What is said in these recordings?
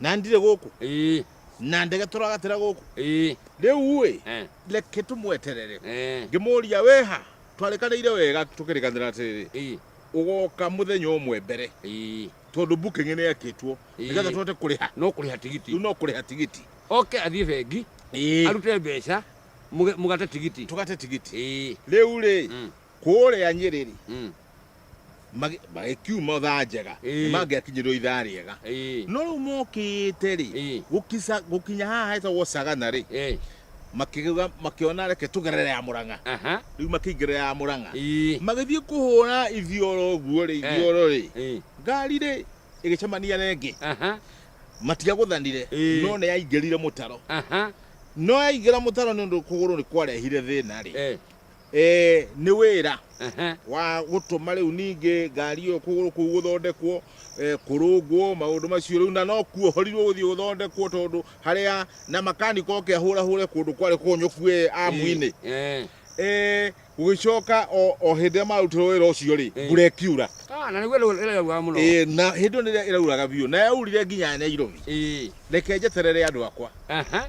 na ndirĩ gũkũ ĩĩ na ndege tũragatĩra gũkũ ĩĩ rĩu ĩ eh, reke tũmweterere eh, ngĩmũria wĩha twarĩkanĩire wega tũkĩrĩkanĩra atĩrĩrĩ ĩĩ ũgoka mũthenya ũmwe mbere ĩĩ tondũ booking nĩ yakĩtwo Ĩĩ. nĩgetha tũhote kũrĩha no kũrĩha tigiti rĩu no kũrĩha tigiti oke athiĩ bengi arute mbeca mũge- mũgate tigiti tũgate tigiti ĩĩ rĩu rĩ Mm. kũrĩa nyĩrĩrĩ Mm. magĩ- magĩkiuma thaa njega Ĩĩ. mangĩakinyĩrwo ithaa rĩega Ĩĩ. no rĩu mokĩte rĩ Ĩĩ. gũkica- gũkinya haha hetagwo cagana rĩ Ĩĩ. makĩgeuka- makĩona reke tũgerere ya mũrang'a Aha. rĩu makĩingĩra ya mũrang'a Ĩĩ. magĩthiĩ kũhũra ithioro ũguo rĩ ithioro rĩ Ĩĩ. ngari rĩ ĩgĩcemania na ĩngĩ Aha. matiagũthanire Ĩĩ. no nĩ yaingĩrire mũtaro Aha. no yaingĩra mũtaro nĩ ũndũ kũgũrũ nĩ kwarehire thĩna rĩ Ĩĩ. Eh, nĩ wĩra Ehe. wa gũtũma rĩu ningĩ ngari ĩyo kũgũrũ kũu gũthondekwo eh, kũrũngwo maũndũ macio rĩu na no kuo horirwo gũthiĩ gũthondekwo tondũ harĩa na makanika oke ahũrahũre kũndũ kwarĩ kũnyũku eh, amu-inĩ Eh. Eh, gũgĩcoka o o hĩndĩ ĩrĩa marutĩrwo wĩra ũcio rĩ Eh. mbura ĩkiura Ah, na nĩguo rĩu ĩrauga mũno Eh, na hĩndĩ ĩyo nĩrĩa ĩrauraga biũ na yaurire nginya nyairobi Eh. reke njeterere andũ akwa Aha.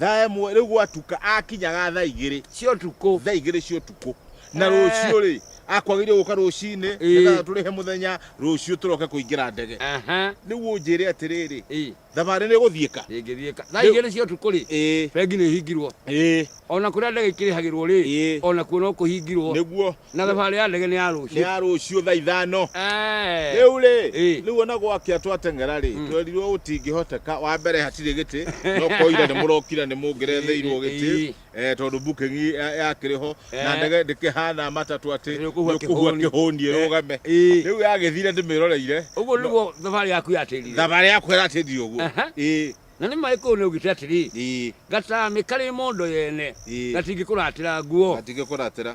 thaa ĩmwe rĩu gwatuka akinyaga thaa igĩrĩ cia ũtukũ thaa igĩrĩ cia ũtukũ na Eh. rũciũ rĩ akwagĩrĩire gũka rũcinĩ Ĩĩ. nĩgetha tũrĩhe mũthenya rũciũ tũroke kũingĩra ndege Aha, rĩu ũnjĩre atĩrĩrĩ ĩ, thabarĩ nĩ gũthiĩka ĩngĩthiĩka thaa Rĩu- igĩrĩ cia ũtukũ rĩ ĩĩ bengi nĩ ĩhingirwo ĩĩ ona kũrĩa ndege ikĩrĩhagĩrwo rĩ Ĩĩ. ona kuo no kũhingirwo nĩguo Na thabarĩ ya ndege nĩ ya nĩ rũciũ. ya rũciũ thaa ithano Eh. rĩu rĩ Ĩ. rĩu ona gwakia twateng'era rĩ twerirwo gũtingĩhoteka wa mbere hatirĩ gĩtĩ no koira nĩ mũrokira nĩ mũngĩretheirwo gĩtĩ Ĩ. eh, tondũ booking ya- yakĩrĩ ho na Eh. ndege ndĩkĩhana matatũ atĩ Nĩ ũkũhua nĩũkũhua kĩhũni. kĩhũni Eh. ĩrũgame Ĩ. rĩu yagĩthire ndĩmĩroreire Ũguo nĩguo thabarĩ yaku yatĩrire. thabarĩ yakwa ĩratĩndire ũguo Aha. Ĩ. Na nĩ marĩkũ ũũ nĩaugĩte atĩrĩ, Ii, Gatani karĩ mondo yene, Ii. gatingĩkũratĩra nguo? gatingĩkũratĩra.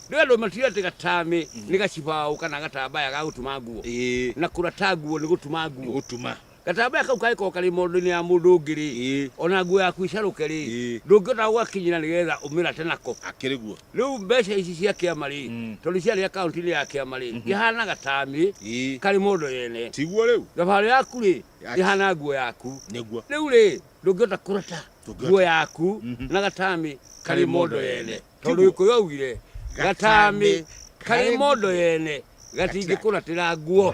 Rĩu andũ matiũĩ atĩ gatani nĩ gacibaũ kana gatambaya ga gũtuma nguo, Ii, na kũrata nguo nĩ gũtuma nĩ nguo. gũtuma. Gatambaya kau kangĩkorwo karĩ mondo-inĩ ya mũndũ ũngĩ-rĩ, Ii, ona nguo yaku ĩcarũke-rĩ, Ii. ndũngĩhota gũgakinyĩra nĩgetha ũmĩrate nako. akĩrĩ guo. Rĩu mbeca ici cia kĩama-rĩ, Mm. tondũ ciarĩ akaunti-inĩ ya kĩama-rĩ, ihana gatani Ii, karĩ mondo yene. tiguo rĩu. Thabarĩ yaku-rĩ, ihana nguo yaku nĩguo rĩu rĩ ndũngĩhota kũrata Ndũngĩhota. nguo yaku Mhm. na gatamĩ karĩ mondo yene tondũ Tiguo. gĩkũyũ augire gatamĩ karĩ mondo yene gatingĩkũratĩra nguo